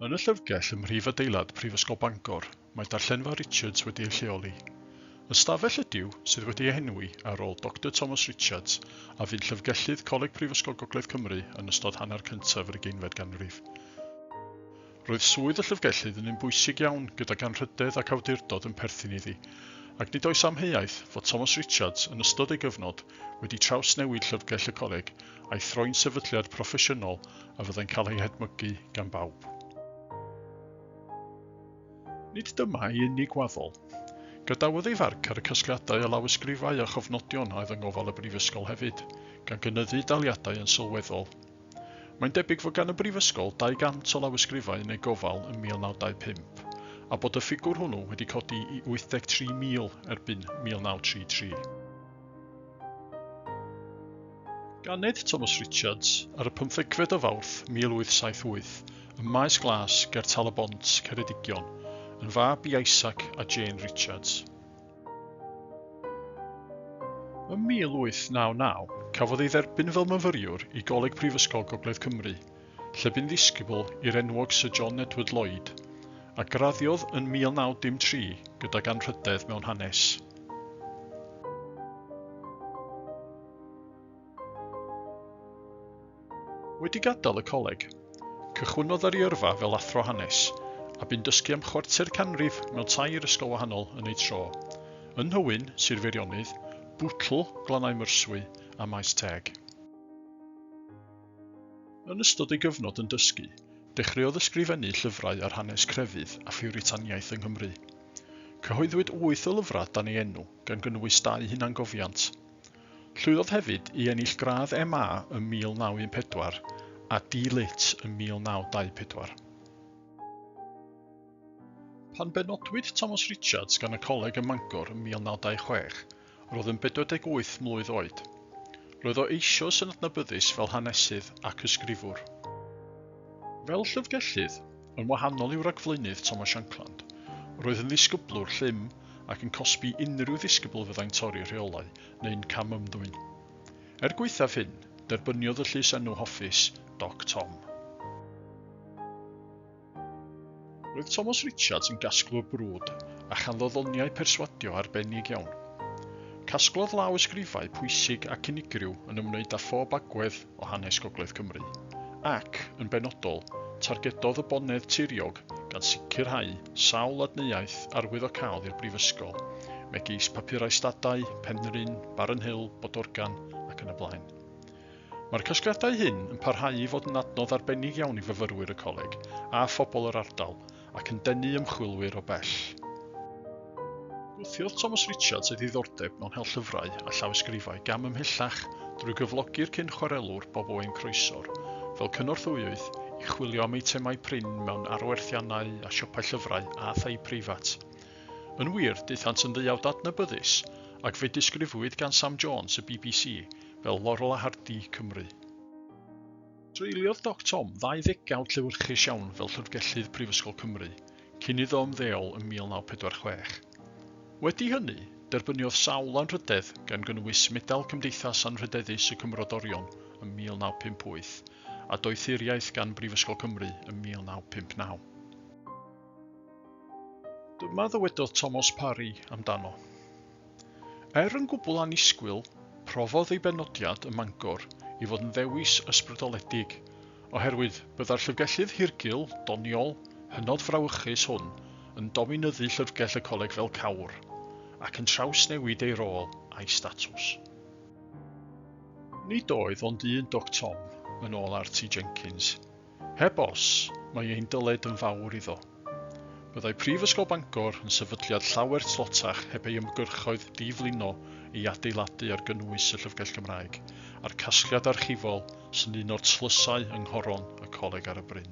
Yn y llyfrgell ym mhrif adeilad Prifysgol Bangor, mae Darllenfa Richards wedi ei lleoli. Ystafell ydyw sydd wedi ei henwi ar ôl Doctor Thomas Richards a fu'n llyfrgellydd Coleg Prifysgol Gogledd Cymru yn ystod hanner cyntaf yr ugeinfed ganrif. Roedd swydd y llyfrgellydd yn un bwysig iawn gydag anrhydedd ac awdurdod yn perthyn iddi, ac nid oes amheuaeth fod Thomas Richards, yn ystod ei gyfnod, wedi trawsnewid Llyfrgell y Coleg a'i throi'n sefydliad proffesiynol a fyddai'n cael ei hedmygu gan bawb. Nid dyma ei unig waddol. Gadawodd ei farc ar y casgliadau a lawysgrifau a chofnodion a oedd yng ngofal y Brifysgol hefyd, gan gynyddu daliadau yn sylweddol. Mae'n debyg fod gan y Brifysgol 200 o lawysgrifau yn ei gofal ym 1925, a bod y ffigwr hwnnw wedi codi i 83,000 erbyn 1933. Ganed Thomas Richards ar y pymthegfed o Fawrth 1878 ym Maes Glas ger Tal-y-bont, Ceredigion, yn fab i Isaac a Jane Richards. Ym 1899, cafodd ei dderbyn fel myfyriwr i Goleg Prifysgol Gogledd Cymru, lle bu'n ddisgybl i'r enwog Syr John Edward Lloyd, a graddiodd yn 1903 gydag anrhydedd mewn hanes. Wedi gadael y coleg, cychwynnodd ar ei yrfa fel athro hanes, a bu'n dysgu am chwarter canrif mewn tair ysgol wahanol yn eu tro, yn Nhywyn, Sir Feirionnydd, Bootle, Glannau Myrswy, a Maes Teg. Yn ystod ei gyfnod yn dysgu, dechreuodd ysgrifennu llyfrau ar hanes crefydd a phiwritaniaeth yng Nghymru. Cyhoeddwyd wyth o lyfrau dan ei enw, gan gynnwys dau hunangofiant. Llwyddodd hefyd i ennill gradd MA ym 1914 a D-Lit ym 1924. Pan benodwyd Thomas Richards gan y coleg ym Mangor ym 1926, roedd yn 48 mlwydd oed. Roedd o eisoes yn adnabyddus fel hanesydd ac ysgrifwr. Fel llyfrgellydd, Yn wahanol i'w ragflaenydd Thomas Shankland, roedd yn ddisgyblwr llym ac yn cosbi unrhyw ddisgybl fyddai'n torri rheolau neu'n cam-ymddwyn. Er gwaethaf hyn, derbyniodd y llys enw hoffus, Doc Tom. Roedd Thomas Richards yn gasglwr brwd a chanddo ddoniau perswadio arbennig iawn. Casglodd law ysgrifau pwysig ac unigryw yn ymwneud â phob agwedd o hanes Gogledd Cymru, ac, yn benodol, targedodd y Bonedd Tiriog gan sicrhau sawl adneuaeth arwyddocaol i'r Brifysgol, megis papurau stadau, Penrhyn, Barren Hill, Bodorgan, ac yn y blaen. Mae'r casgliadau hyn yn parhau i fod yn adnodd arbennig iawn i fyfyrwyr y Coleg a phobl yr ardal, ac yn denu ymchwilwyr o bell. Gwthiodd Thomas Richards ei ddiddordeb mewn hel llyfrau a llawysgrifau gam ymhellach drwy gyflogi'r cyn-chwarelwr Bob Owen Croesor fel cynorthwyydd i chwilio am eitemau prin mewn arwerthiannau a siopau llyfrau a thai preifat. Yn wir, daethant yn ddeuawd adnabyddus, ac fe disgrifwyd gan Sam Jones y bbc fel Laurel a Hardy Cymru. Treuliodd Doc Tom ddau ddegawd llewyrchus iawn fel Llyfrgellydd Prifysgol Cymru, cyn iddo ymddeol ym 1946. Wedi hynny, derbyniodd sawl anrhydedd, gan gynnwys Medal Cymdeithas Anrhydeddus y Cymmrodorion ym 1958, a Doethuriaeth gan Brifysgol Cymru ym 1959. Dyma ddywedodd Tomos Parry amdano. Er yn gwbl annisgwyl, profodd ei benodiad ym Mangor i fod yn ddewis ysbrydoledig, oherwydd byddai'r llyfrgellydd hirgul, doniol, hynod frawychus hwn yn dominyddu llyfrgell y coleg fel cawr, ac yn trawsnewid ei rôl a'i statws. Nid oedd ond un Doc Tom, yn ôl RT Jenkins, Heb os, mae ein dyled yn fawr iddo. Byddai Prifysgol Bangor yn sefydliad llawer tlotach heb ei ymgyrchoedd di-flino, ei adeiladu ar gynnwys y Llyfrgell Gymraeg, a'r casgliad archifol sy'n un o'r tlysau yng nghoron y Coleg ar y bryn.